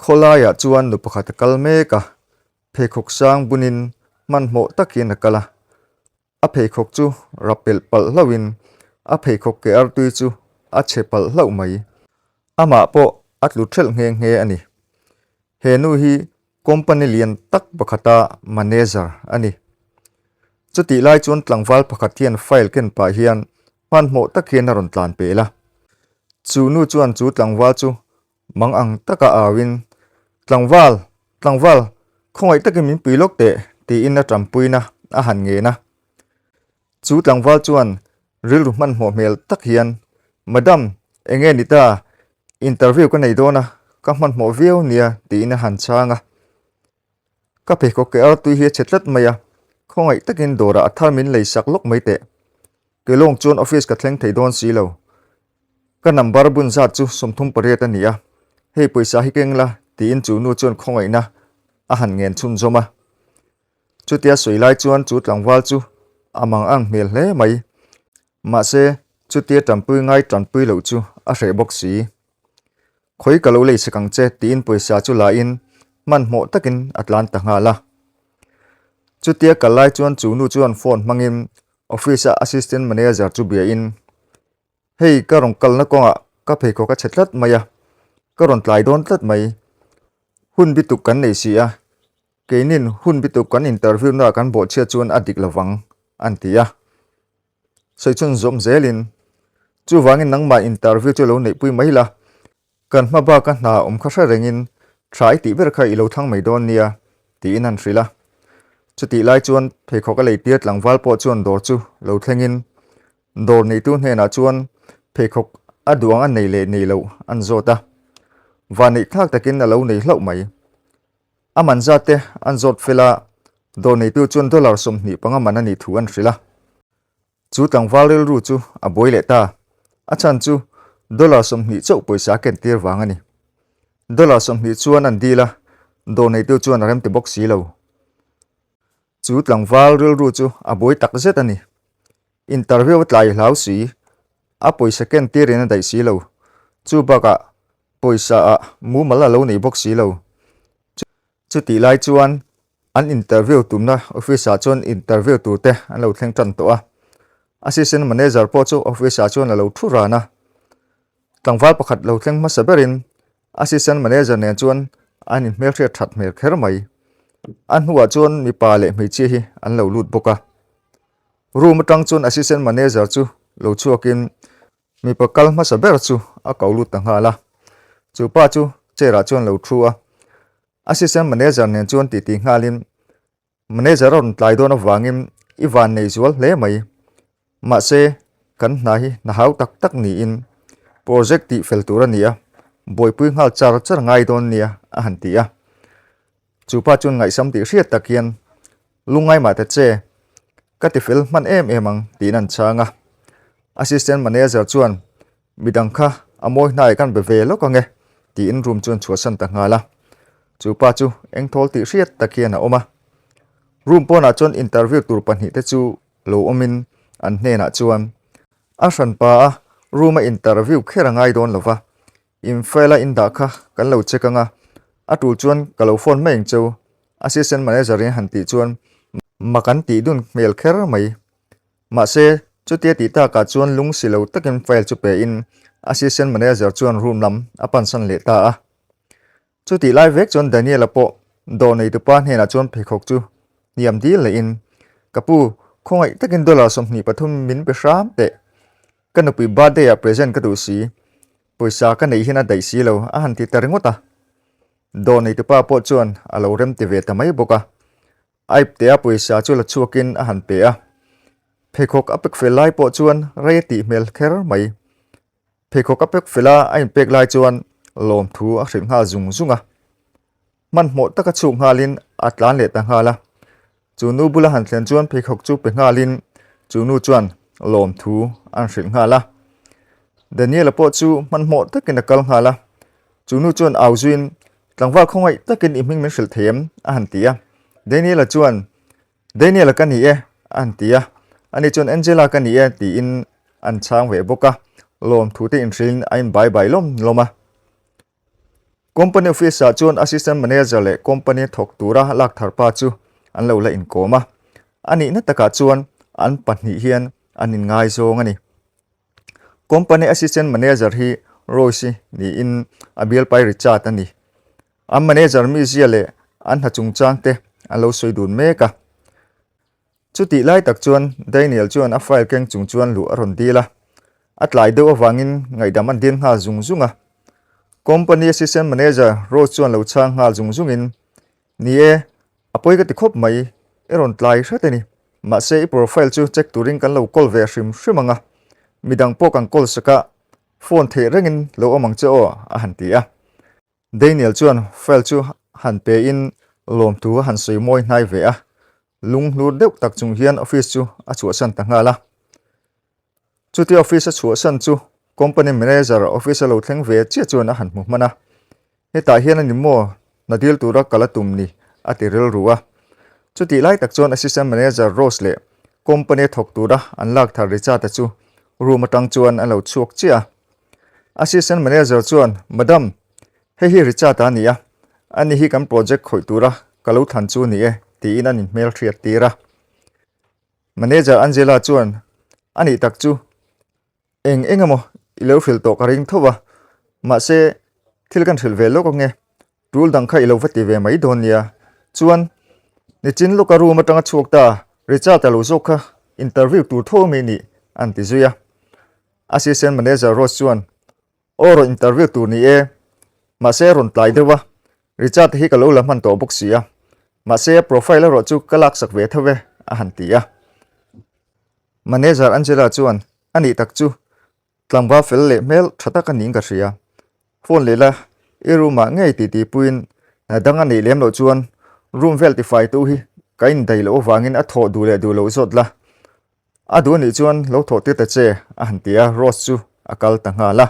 Khawlaiah chuan nu pakhat a kal mek a, pheikhawk sang bunin hmanhmawh takin a kal a, a pheikhawk chu rapelh palh hlauhin a pheikhawk ke artui chu a chhe palh hlauh mai. Amah pawh a tlu ṭhelh nghe nghe a ni. He nu hi Company lian tak pakhata manager a ni. Chutih lai chuan tlangval pakhat hian file ken pah hian hmanhmawh tak hian a rawn tlan pel a. Chu nu chuan chu tlangval chu mang ang taka auin, Tlangval! Tlangval! Khawngaih takin min pui lawk teh, tiin a ṭampuina a han ngen a. Chu tlangval chuan rilru hmanhmawh hmel tak hian, Madam, eng nge ni ta, interview ka nei dawn a, ka hmanhmawh viau nia tiin a han chhang a. Ka pheikhawk ke artui hi a chhe tlat mai a, khawngaih takin dawrah a thar min lei sak lawk mai teh. Ke lawng chuan office ka thleng thei dawn si lo. Ka number bun zat chu sawmthum pariat a ni a, hei pawisa hi keng la tiin chu nu chuan khawngaihna a han ngen chhunzawm a. Chutia sawi lai chuan chu tlangval chu a mang ang hmel hle mai. Mahse, chutia tanpui ngai tanpui loh chu a hreh bawk si. Khawi ka lo lei chhek ang che tiin pawisa chu lahin hmanhmawh takin a tlan ta nghal a. Chutia kal lai chuan chu nu chuan phone hmangin office-a assistant manager chu biain, Hei, ka rawn kalna kawngah ka pheikhawk a chhe tlat mai a, ka rawn tlai dawn tlat mai. Hun bituk kan nei si a, Keinin hun bituk kan interviewna kan bawhchhiat chuan a dik lovang, a ni tih a. Sawichhun zawm zelin, Chuvangin nangmah interview chu lo neihpui mai la, kan hma baka hna awm kha hre rengin tha i tih ber kha i lo thlang mai dawn nia tiin an hrilh a. Chutih lai chuan pheikhawk a lei tir tlangval pawh chuan dawr chu lo thlengin dawr neitu hnenah chuan pheikhawk a duang a nei leh nei loh an zawt a. Vanneih thlak takin a lo nei hlauh mai. A man zat te an zawt fel a, dawr neitu chuan dollar sawmhnih panga man a nih thu an hrilh a. Chu tlangval rilru chu a buai leh ta. A chhan chu dollar sawmhnih chauh pawisa a kentir vang a ni. Dollar sawmhnih chuan an deal a, dawr neitu chuan a rem ti bawk si lo. Chu tlangval rilru chu a bawi tak zet a ni. Interview a tlai hlau si i, a pawisa ken tirin a daih si lo. Chu bakah pawisa ah mumal a lo nei bawk si lo. Chutih lai chuan an interview tumna office ah chuan interview tur te an lo thleng tan tawh a. Assistant Manager pawh chu office ah chuan a lo thu ran a. Tlangval pakhat lo thleng hmasa berin Assistant Manager nen chuan a ni hmelhriat that hmel kher mai. A hnuah chuan mipa leh hmeichhia hi an lo lut bawk a. Room atang chuan Assistant Manager chu lo chhuakin mipa kal hmasa ber chu a ko lut ta nghal a. Chu pa chu chair ah chuan lo thu a. Assistant Manager nen chuan titi nghalin Manager a rawn tlai dawn avangin i van nei zual hle mai. Mahse, kan hna hi hna hau tak tak niin project tih fel tur a ni a, buaipui nghal char char ngai dawn nia a han ti a. Chupa chuan ngaihsam tih hriat tak hian, Lungai mah ta che, ka ti fel hman em em ang tiin an chhang a. Assistant Manager chuan Midang kha a mawi hnai kan be ve lawk ange, tiin room chuan chhuah san ta nghal a. Chu pa chu eng thawl tih hriat tak hian a awm a. Room pawnah chuan interview tur pahnih te chu lo awmin an hnenah chuan a hran pa a room a interview kher a ngai dawn lo va, in file a indah kha kan lo check anga, a tul chuan ka lo phone mai ang che u, assistant manager in han tih chuan mak an tih dun hmel kher mai. Mahse, chutia tih takah chuan lung si lo takin file chu pehin Assistant Manager chuan room lam a pansan leh ta a. Chutih lai vek chuan Daniela pawh dawh nei tupa hnenah chuan pheikhawk chu hniam dil nehin, Ka pu, khawngaih takin dollar sawmhnih pathum min pe hram teh. Ka nupui birthday-ah present ka duh si. Pawisa ka neih hian a daih si lo, a han ti ta ringawt a. Dawh nei tupa pawh chuan a lo rem ti ve ta mai bawk a. A ip te a pawisa chu la chhuak in a han pe a, pheikhawk a pek fel lai pawh chuan rei a tih hmel kher mai. Pheikhawk a pek fel a a in pek lai chuan lawm thu a hrilh nghal zung zung a, hmanhmawh taka chhuk nghal in a tlan leh ta nghal a, chu nu bula han thlen chuan pheikhawk chu pe nghal in chu nu chuan lawm thu an hrilh nghal a. Daniela pawh chu hmanhmawh tak in a kal nghal a, Chu nu chuan au zuiin, Tlangval khawngaih takin i hming min hrilh thei em? a han ti a. Daniela chuan, Daniela ka ni e, a han ti a. Ani chuan, Angela ka ni e, tiin an chhang ve bawk a, lawmthute inhrilhin a inbai bai lawm lawm a. Company office-ah chuan assistant manager leh company thawk tura lak thar pa chu an lo la inkawm a. A nihna takah chuan an pahnih hian an inngaizawng a ni. Company Assistant Manager hi Royce niin a bialpai ri chat a ni. An manager mizia leh an hna chungchang te a lo sawi dun mek a. Chu tih lai tak chuan Daniel chuan a file keng chung chuan luh a rawn dil a. A tlai deuh avangin ngaihdam an dil nghal zung zung a. Company Assistant Manager Royce chuan lo chhang nghal zung zungin Ni e, a pawi ka ti khawp mai, i rawn tlai hret a ni. Mahse i profile chu check turin kan lo call ve hrim hrim ang a, midang pawh kan call sak a, phone theih rengin lo awm ang che aw, a han ti a. Daniel chuan file chu han pe in lawmtu a han sawi mawi hnai ve a, Lung hlur deuh tak chung hian office chu a chhuahsan ta nghal a. Chuti office a chhuahsan chu company manager office a lo thleng ve chiah chuan a han hmu hman a. Hetah hian a ni maw, hna dil tura kal a tum ni? a ti rilru a. Chutih lai tak chuan assistant manager Rose leh company thawk tura an lak thar Richard-a chu room atang chuan an lo chhuak chiah a. Assistant manager chuan, Madam, Hei hi Richard-a a ni a, a ni hi kan project khawih tura ka lo thlan chu a ni e, tiin an inhmel hriat tir a. Manager Angela chuan, A nih tak chu, eng eng emaw i lo hrilh tawh ka ring thauh a, mahse, thil kan hrilh ve lawk ang e, tul dang kha i lo va ti ve mai dawn nia. Chuan, Nichin lawka room atanga chhuak ta, Richard-a lo zawk kha interview tur tho mai nih, an ti zui a. Assistant Manager Ross chuan, Aw rawn interview tur ni e, mahse rawn tlai deuh a, Richard hi ka lo la hman tawh bawk si a, mahse profile erawh chu ka laksak ve tho e, a han ti a. Manager Angela chuan a nih tak chu tlangva fel leh hmel tha tak a ning ka hria a, phone leh la i room ah ngei ti ti puiin dang a neih lem loh chuan room vel tifai tu hi ka indaih loh avangin a thawh duh leh duh loh zawt la, A duh anih chuan lo thawh tir ta che a han ti a, Rose chu a kal ta nghal a.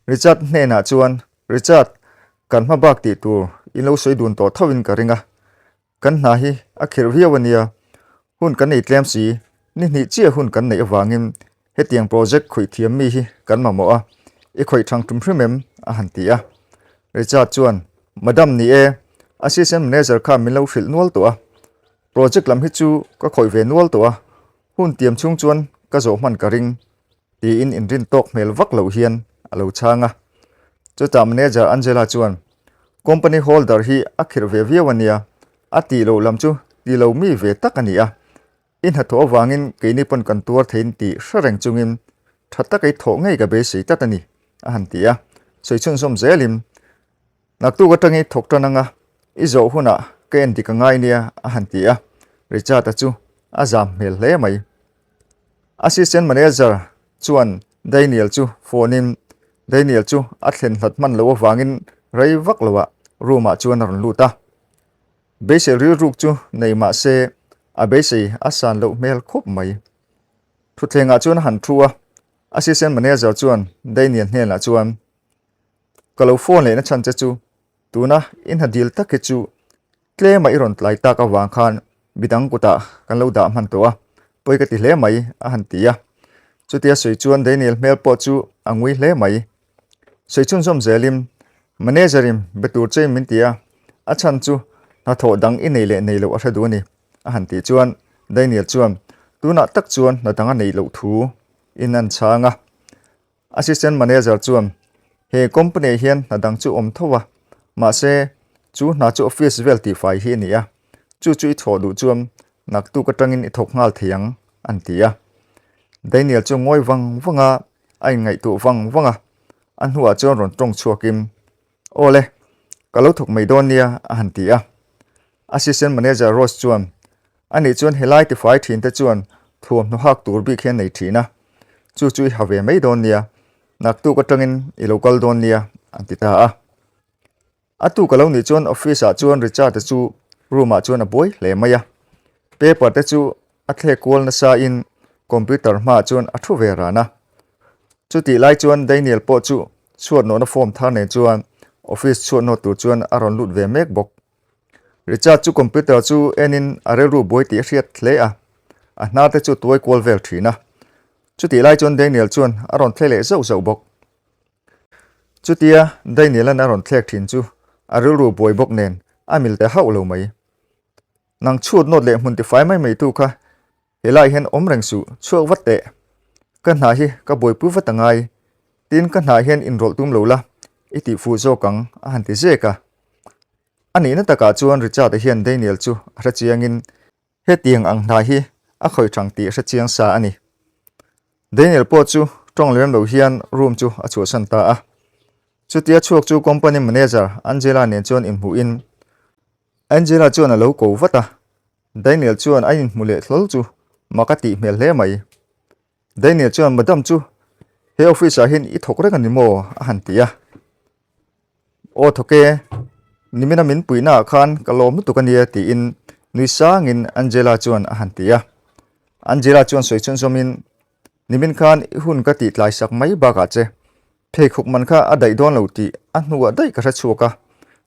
Richard hnenah chuan, Richard, kan hma bak tih tur in lo sawi dun tawh thauhin ka ring a, kan hna hi a khirh viau a nia, hun kan ei tlem si, ni hnih chiah hun kan neih avangin hetiang project khawih thiam mi hi kan mamawh a, i khawih thang tum hrim em? a han ti a. Richard chuan, Madam ni e, assistant manager kha min lo hrilh nual tawh a. Project lam hi chu ka khawih ve nual tawh a, hun tiam chhung chuan ka zawh hman ka ring tiin inrin tawk hmel vak loh hian a lo chhang a. Chutah manager Angela chuan, Company holder hi a khirh ve viau a nia, a tih loh lam chu ti lo mi ve tak a ni a, i hnathawh avangin keini pawn kan tuar theiin ti hre reng chungin tha taka i thawh ngei ka beisei tlat a ni, a han ti a, sawi chhunzawm zelin Naktuk atang i thawk tan anga i zawh hunah ka en dik a ngai nia a han ti a, Richard-a chu a zam hmel hle mai. Assistant Manager chuan Daniel chu phone in Daniel chu a thlen hlat hman loh avangin rei vak lohah room-ah chuan a rawn lut a. Beisei rilruk chu nei mah se a beisei a san loh hmel khawp mai. Thutthlengah chuan a han thu a, Assistant Manager chuan Daniel hnenah chuan Ka lo phone lehna chhan che chu, tuna i hna dil tak hi chu tlem a i rawn tlai tak avang khan midang kutah kan lo dah hman tawh a, pawi ka ti hle mai, a han ti a. Chutia sawi chuan Daniel hmel pawh chu a ngui hle mai. Sawi chhun zawm zelin, Manager in be tur che min ti a, a chhan chu hnathawh dang i nei leh nei loh a hre duh a ni, a han tih chuan Daniel chuan tunah tak chuan hna danga nei loh thu in a inchhang a. Assistant Manager chuan, He company ah hian hna dang chu awm tho a, mahse, chu hna chu office vel tihfai hi a ni a, chu chu i chhawh duh chuan naktuk atangin i thawk nghal thei ang, a ni ti a. Daniel chu ngawi vang vang a, a inngaihtuh vang vang a, a hnuah chuan rawn tawng chhuakin Aw le, ka lo thawk mai dawn nia, a han ti a. Assistant Manager Ross chuan, A nih chuan helai tifai thin te chuan thuam hnu hak tur bik hi a nei thin a, chu chu i ha ve mai dawn nia, naktuk atangin i lo kal dawn nia, an ti ta a. A tu ka lo nih chuan office ah chuan Richard-a chu room ah chuan a buai hle mai a. Paper te chu A thlek kual nasain computer hmaah chuan a thu ve ran a. Chutih lai chuan Daniel pawh chu chhuatnawhna form thar nen chuan office chhuatnawt tur chuan a rawn lut ve mek bawk. Richard chu computer chu enin a rilru buai tih a hriat hle a, a hnar te chu tuai kual vel thin a. Chutih lai chuan Daniel chuan a rawn thlei leh zauh zauh bawk. Chutia Daniel-a'n a rawn thlek thin chu a rilru buai bawk nen a mil ta hauh lo mai. Nang chhut nawt leh hmun tifai mai mai tu kha he lai hian awm reng suh, chhuak vat teh. Ka hna hi ka buai pui vat a ngai, tin ka hnah hian inrawlh tum lo la, i tih fuh zawk ang, a han ti zek a. A nihna takah chuan Richard-a hian Daniel chu a hre chiangin, Hetiang ang hna hi a khawih thang tih hre chiang sa a ni. Daniel pawh chu tawng lem lo hian room chu a chhuahsan ta a. Chutia chhuak chu company manager Angela nen chuan inhmuhin, Angela chuan a lo ko vat a, Daniel chuan a inhmu leh thlawl chu mak a tih hmel hle mai. Daniel chuan, Madam chu he office ah hian i thawk reng a ni maw? a han ti a. Aw thawk e, nimina min puihna ah khan ka lawm lutuk a nia tiin nui sang in Angela chuan a han ti a. Angela chuan sawi chhunzawm in, Nimin khan i hun ka tih tlaisak mai bak ah che Pheikhawk man kha a daih dawn lo tih a hnuah daih ka hre chhuak a,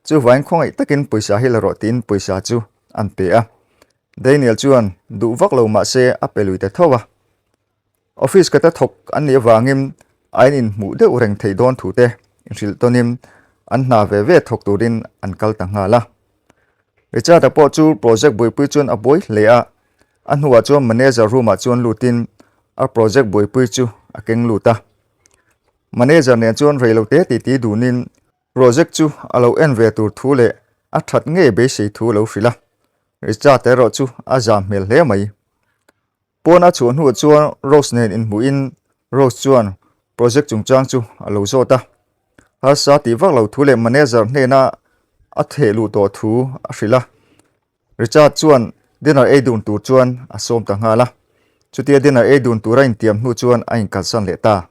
chuvain khawngaih takin pawisa hi la rawh tiin pawisa chu an pe a. Daniel chuan duh vak lo mahse a pe lui ta tho a. Office ka ta thawk an nih avangin a in inhmuh deuh reng thei dawn thu te inhrilh tawnin an hna ve ve thawk turin an kal ta nghal a. Richard-a pawh chu project buaipui chuan a buai hle a, a hnuah chuan manager room-ah chuan lutin a project buaipui chu a keng lut a. Manager nen chuan rei lo te titi duhnin project chu a lo en ve tur thu leh a that ngei beisei thu a lo hrilh a, Richard erawh chu a zam hmel hle mai. Pawn a chhuah hnuah chuan Rose nen inhmuhin Rose chuan project chungchang chu a lo zawt a, harsa tih vak lo thu leh manager hnena a thehluh tawh thu a hrilh a. Richard chuan dinner ei dun tur chuan a sawm ta nghal a, chutia dinner ei dun tura intiam hnu chuan a inkalsan leh ta.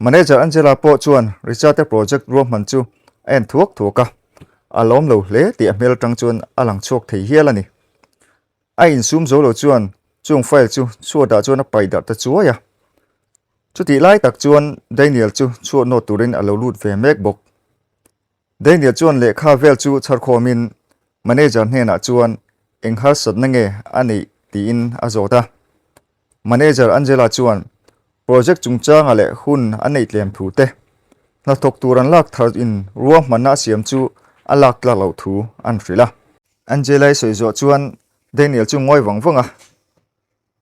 Manager Angela pawh chuan Richard-a project ruahman chu a en thuak thuak a, a lawm lo hle tih a hmel atang chuan a lang chhuak thei hial a ni. A insum zo lo chuan chung file chu chhuah dah chuan a paih darh ta chuai a. Chutih lai tak chuan Daniel chu chhuah nawt turin a lo lut ve mek bawk. Daniel chuan lehkha vel chu chhar khawmin manager hnenah chuan eng harsatna nge a neih tiin a zawt a. Manager Angela chuan project chungchanga leh hun a neih tlem thu te, hnathawk tur an lak thar in ruah hmanna a siam chu a lak tlak loh thu an hrilh a. Angela-i sawi zawh chuan Daniel chu ngawi vang vang a,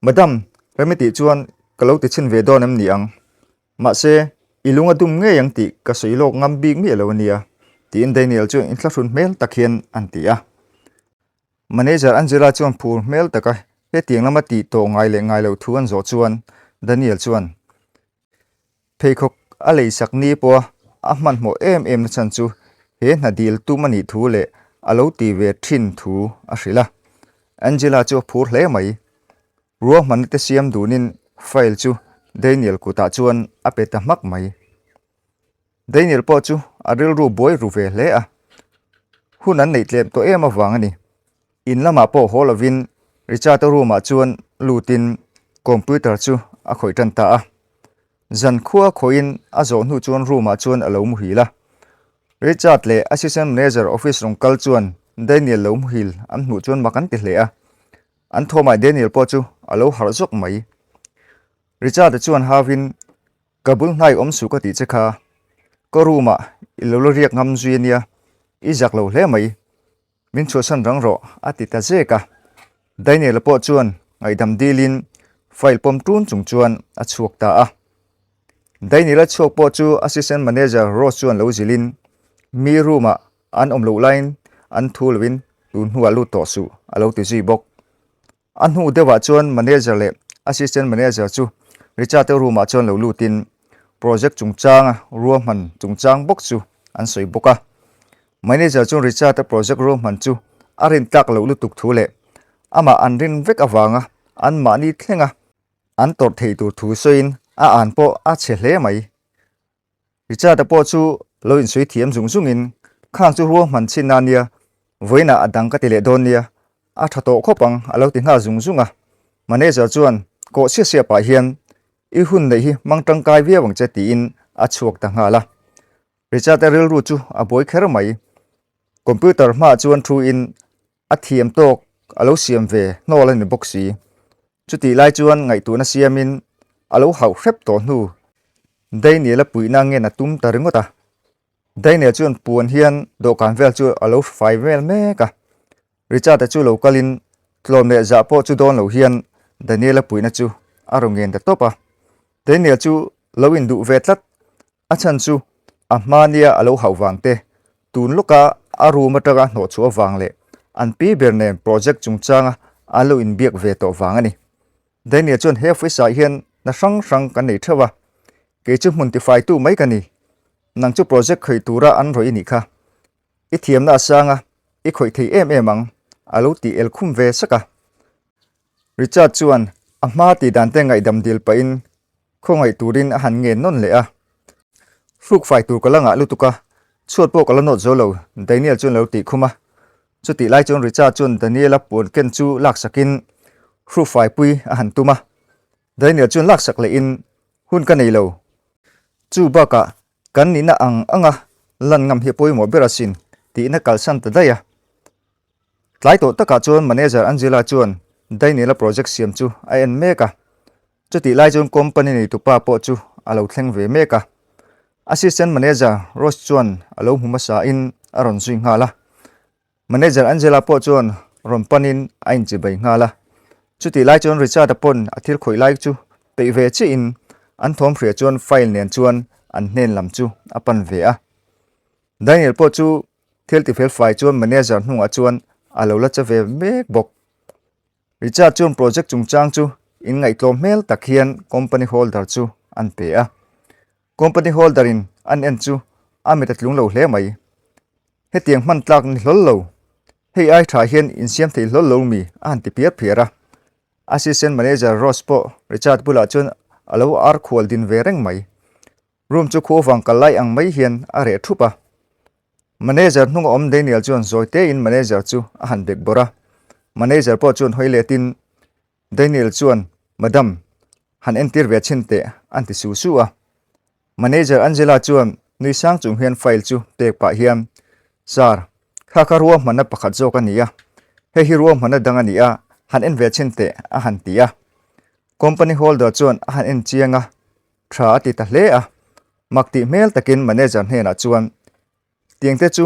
Madam, remi tih chuan ka lo ti chhin ve dawn em ni ang? Mahse, i lung a dum ngei ang tih ka sawi lawk ngam bik miah lo a nia, tiin Daniel chu intla hrun hmel tak hian an ti a. Manager Angela chuan phur hmel taka hetiang lama tih tawh ngai leh ngai loh thu an zawh chuan Daniel chuan, Pheikhawk a leisak ni pawha a hmanhmawh em em nachhan chu he hnadil tum a nih thu leh a lo ti ve thin thu a hrilh a. Angela chu a phur hle mai. Ruah hmanna te siam dunin file chu Daniel kutah chuan a pe ta hmak mai. Daniel pawh chu a rilru buai ru ve hle a. Hun an neih tlem tawh em avang a ni. In lamah pawh haw lovin Richard-a room-ah chuan lutin computer chu a khawih tan ta a. Zan khua khawihin a zawh hnu chuan room-ah chuan a lo muhil a. Richard leh Assistant Manager office rawn kal chuan Daniel lo muhil an hmuh chuan mak an ti hle a. An thawmai Daniel pawh chu a lo harh zawk mai. Richard-a chuan hauhin, Ka bul hnai awm suh ka tih che kha, ka room-ah i lo la riak ngam zui a nia, i zak lo hle mai. Min chhuahsan rang rawh, a ti ta zek a. Daniela pawh chuan ngaihdam dilin file pawm tun chung chuan a chhuak ta a. Daniela chhuak pawh chu Assistant Manager Ross chuan lo zilin, Mi room-ah an awm loh laiin an thu loin tunhnuah lut tawh suh, a lo ti zui bawk. A hnu deuhah chuan manager leh assistant manager chu Richard te room-ah chuan lo lutin project chungchanga ruahman chungchang bawk chu an sawi bawk a. Manager chuan Richard-a project ruahman chu a rin tlak loh lutuk thu leh amah an rin vek avanga an mahni thlenga an tawrh thei tur thu sawiin a an pawh a chhe hle mai. Richard-a pawh chu lo insawi thiam zung zungin, Khang chu rual hman chhin nan nia, vawiinah a dang ka ti leh dawn nia, a tha tawh khawp ang a lo ti nghal zung zung a. Manager chuan kawh sia sia pah hian, I hun neih hi hmang tangkai viau ang che tiin a chhuak ta nghal a. Richard-a rilru chu a bawi kher mai. Computer hmaah chuan thuin A thiam tawk a lo siam ve hnawl a ni bawk si. Chutih lai chuan ngaihtuahna siamin a lo hauh hrep tawh hnu Daniela puihna ngen a tum ta ringawt a. Daniel chuan puan hian dawhkan vel chu a lo fai vel mek a. Richard-a chu lo kalin tlawn leh zah pawh chu dawn lo hian Daniela puihna chu a raw ngen ta tawp a. Daniel chu lo induh ve tlat A chhan chu a hma nia a lo hauh vang te, tun lawka a room atanga hnawh chhuah vang leh an pi ber nen project chungchanga an lo inbiak ve tawh vang a ni. Daniel chuan he office ah hian na hrang hrang kan nei theuh a, kei chu hmun tifaitu mai ka ni, nang chu project khawih tura an rawi i nih kha, i thiamna asanga i khawih thei em em ang, a lo ti el khum ve sak a. Richard chuan a hma tih dan te ngaihdam dil pahin khawngaih turin a han ngen nawn leh a. Hruk fai tur ka la ngah lutuk a, chhuat pawh ka la nawt zo lo, Daniel chuan a lo tih khum a. Chutih lai chuan Richard chuan Daniela puan ken chu laksakin hruk fai pui a han tum a. Daniel chuan laksak leh in, Hun ka nei lo. Chu bakah kan nihna ang anga lan ngam hi pawimawh ber asin tihna kalsan ta daih a. Tlai tawh takah chuan manager Angela chuan Daniela project siam chu a en mek a, chutih lai chuan company nei tupa pawh chu a lo thleng ve mek a. Assistant manager Ross chuan a lo hmu hmasa in a rawn zui nghal a. Manager Angela pawh chuan rawn pan in a inchi bai nghal a. Chutih lai chuan Richard-a pawn a thil khawih lai chu peih ve chiah in an thawm hria chuan file nen chuan an hnen lam chu a pan ve a. Daniel pawh chu Thil ti fel fai chuan manager hnungah chuan a lo la che ve mek bawk. Richard chuan project chungchang chu in ngaihtlawm hmel tak hian company holder chu an pe a. Company holder in an en chu a mita tlung lo hle mai. Hetiang hman tlak ni hlawl lo, hei ai tha hian in siam thei hlawl lo mi a han ti phiar phiar a. Assistant manager Ross pawh Richard bulah chuan a lo ar khual din ve reng mai. Room chu khu avang kal lai ang mai hian a reh thup a. Manager hnung a awm Daniel chuan zawi tein manager chu a han bek bawrh a. Manager pawh chuan hawi let in Daniel chuan Madam, han entir ve chhin teh an ti su su a. Manager Angela chuan nui sang chung hian file chu pek pah hian, Sir, kha kha rua hmanna pakhat zawk a ni a. Hei hi rua hmanna dang a ni a, han en ve chhin teh a han ti a. Company holder chuan a han en chiang a. Tha a ti ta hle a, mak tih hmel takin manager hnenah chuan Tiangte chu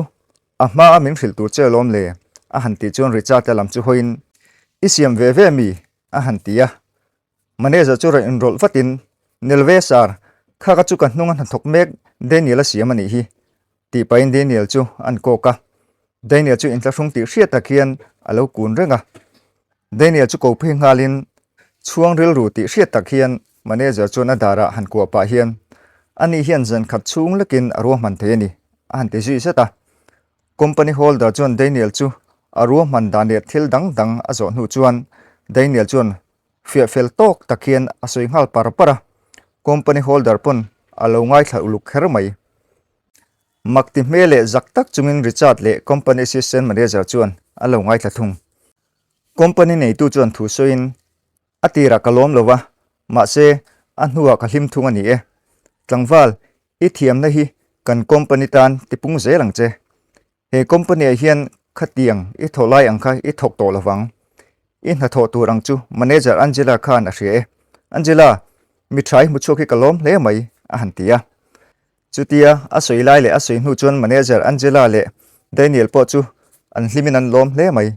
a hma a min hrilh tur che lawm le a han tih chuan Richard te lam chu hawiin I siam ve ve mi? a han ti a, manager chu rawn inrawlh vatin Nel ve sir, kha ka chu ka hnunga hnathawk mek Daniel a siam a nih hi, Tih pahin Daniel chu a an kawk a. Daniel chu intla hrung tih hriat tak hian a lo kun reng a. Daniel chu ko phei nghalin chhuang rilru tih hriat tak hian manager chuan a darah han kuah pah hian, Ani hian zan khat chhung lekin a ruahman thei a ni, a han ti zui zat a. Company holder chuan Daniel chu a ruahman dan leh thil dang dang a zawh hnu chuan Daniel chuan hriah fel tawk tak hian a sawi nghal par par a, company holder pawn a lo ngaithla uluk kher mai. Mak ti hmel leh zak tak chungin Richard leh company assistant manager chuan a lo ngaithla thung. Company neitu chuan thu sawiin, A tirah ka lawm lo va, mahse a hnuah ka hlim thung a ni e. Tlangval, i thiamna hi kan company tan tipung zel ang che. He company-ah hian khatiang i thawh lai ang kha i thawk tawh lo vang. I hna thawh tur ang chu manager Angela khan a hria e. Angela, mi tha i hmu chhuak hi ka lawm hle mai, a han ti a. Chutia a sawi lai leh a sawi hnu chuan manager Angela leh Daniel pawh chu an hlimin an lawm hle mai.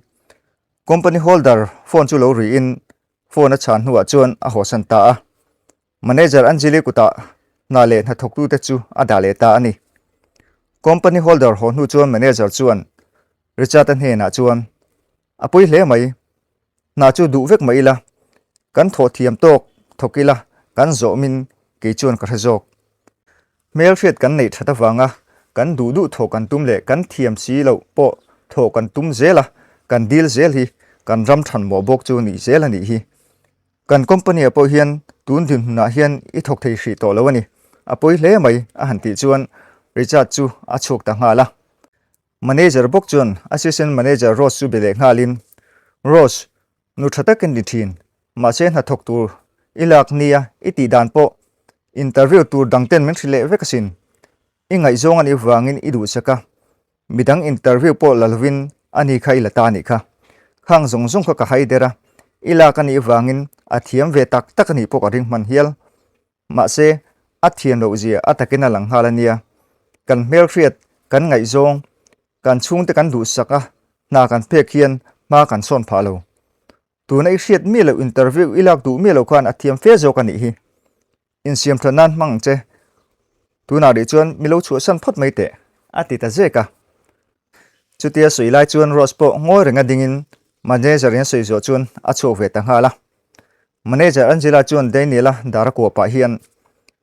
Company holder phone chu lo ri in phone a chhan hnuah chuan a hawhsan ta a. Manager Anjali kuta hna leh hnathawktute chu a dah leh ta a ni. Company holder haw hnu chuan manager chuan Richard-a hnenah chuan, A pui hle mai, hna chu duh vek mah ila, kan thawh thiam tawk thawk ila kan zawhmin kei chuan ka hre zawk. Hmelhriat kan neih that avanga kan duh duh thawh kan tum leh kan thiam si loh pawh thawh kan tum zel a, kan deal zel hi kan ram than mawh bawk chu nih zel a nih hi. Kan company-a pawh hian tun dinhmunah hian i thawk thei hrih tawh lo a ni. A pawi hle mai a han tih chuan Richard chu a chhuak ta nghal a. Manager bawk chuan Assistant Manager Rose chu be leh nghalin, Rose, nu tha tak i ni thin, mahse hna thawk tur i lak nia i tih dan pawh interview tur dangten min hrilh leh vek asin. I ngaihzawng anih vangin i duhchak a, Midang interview pawh la lovin a ni kha i la ta nih kha. Khang zawng zawng kha ka haider a, i lak a nih vangin a thiam ve tak tak a nih pawh ka ring hman hial. Mahse, a thiam loh zia a takin a lang nghal a nia. Kan hmelhriat kan ngaihzawng, kan chhungte kan duhsak a hna kan phek hian hma kan sawn phah lo. Tuna i hriat miah loh interview i lak duh miah loh khan a thiam fe zawk a nih hi. Insiam tha nan hmang che. Tunah rih chuan mi lo chhuahsan phawt mai teh, a ti ta zek a. Chutia sawi lai chuan Rose pawh ngawi reng a dingin manager in sawi zawh chuan a chhuak ve ta nghal a. Manager Angela chuan Daniela dar a kuah pah hian,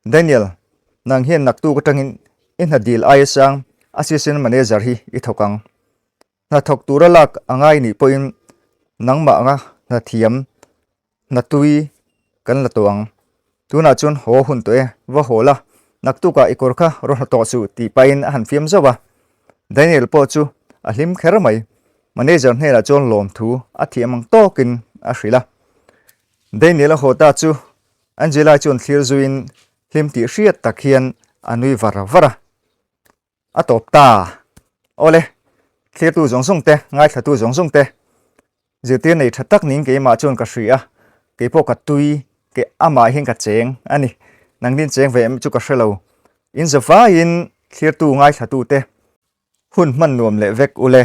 Daniel, nang hian naktuk atangin i hna dil aia sang assistant manager hi i thawk ang. Hnathawk tura lak a ngai nih pawhin nangmahga hnathiam, hnatui kan la tawh ang. Tunah chuan haw hun tawh e, va haw la, naktukah i kawr kha raw hla tawh chu tih pahin a han fiam zauh a. Daniel pawh chu a hlim kher mai. Manager hnenah chuan lawmthu a thiam ang tawkin a hrilh a. Daniel-a haw ta chu Angela-i chuan thlir zuiin hlim tih hriat tak hian a nui var var a. A tawp ta, awle thlirtu zawng zawng te, ngaithlatu zawng zawng te zirtir nei tha tak ning keimah chuan ka hria, keipawh ka tui, ke amah hian ka cheng a ni, nang din cheng ve em chu ka hre lo. In za vaiin thlirtu ngaithlatu te hun hman nuam leh vek u le.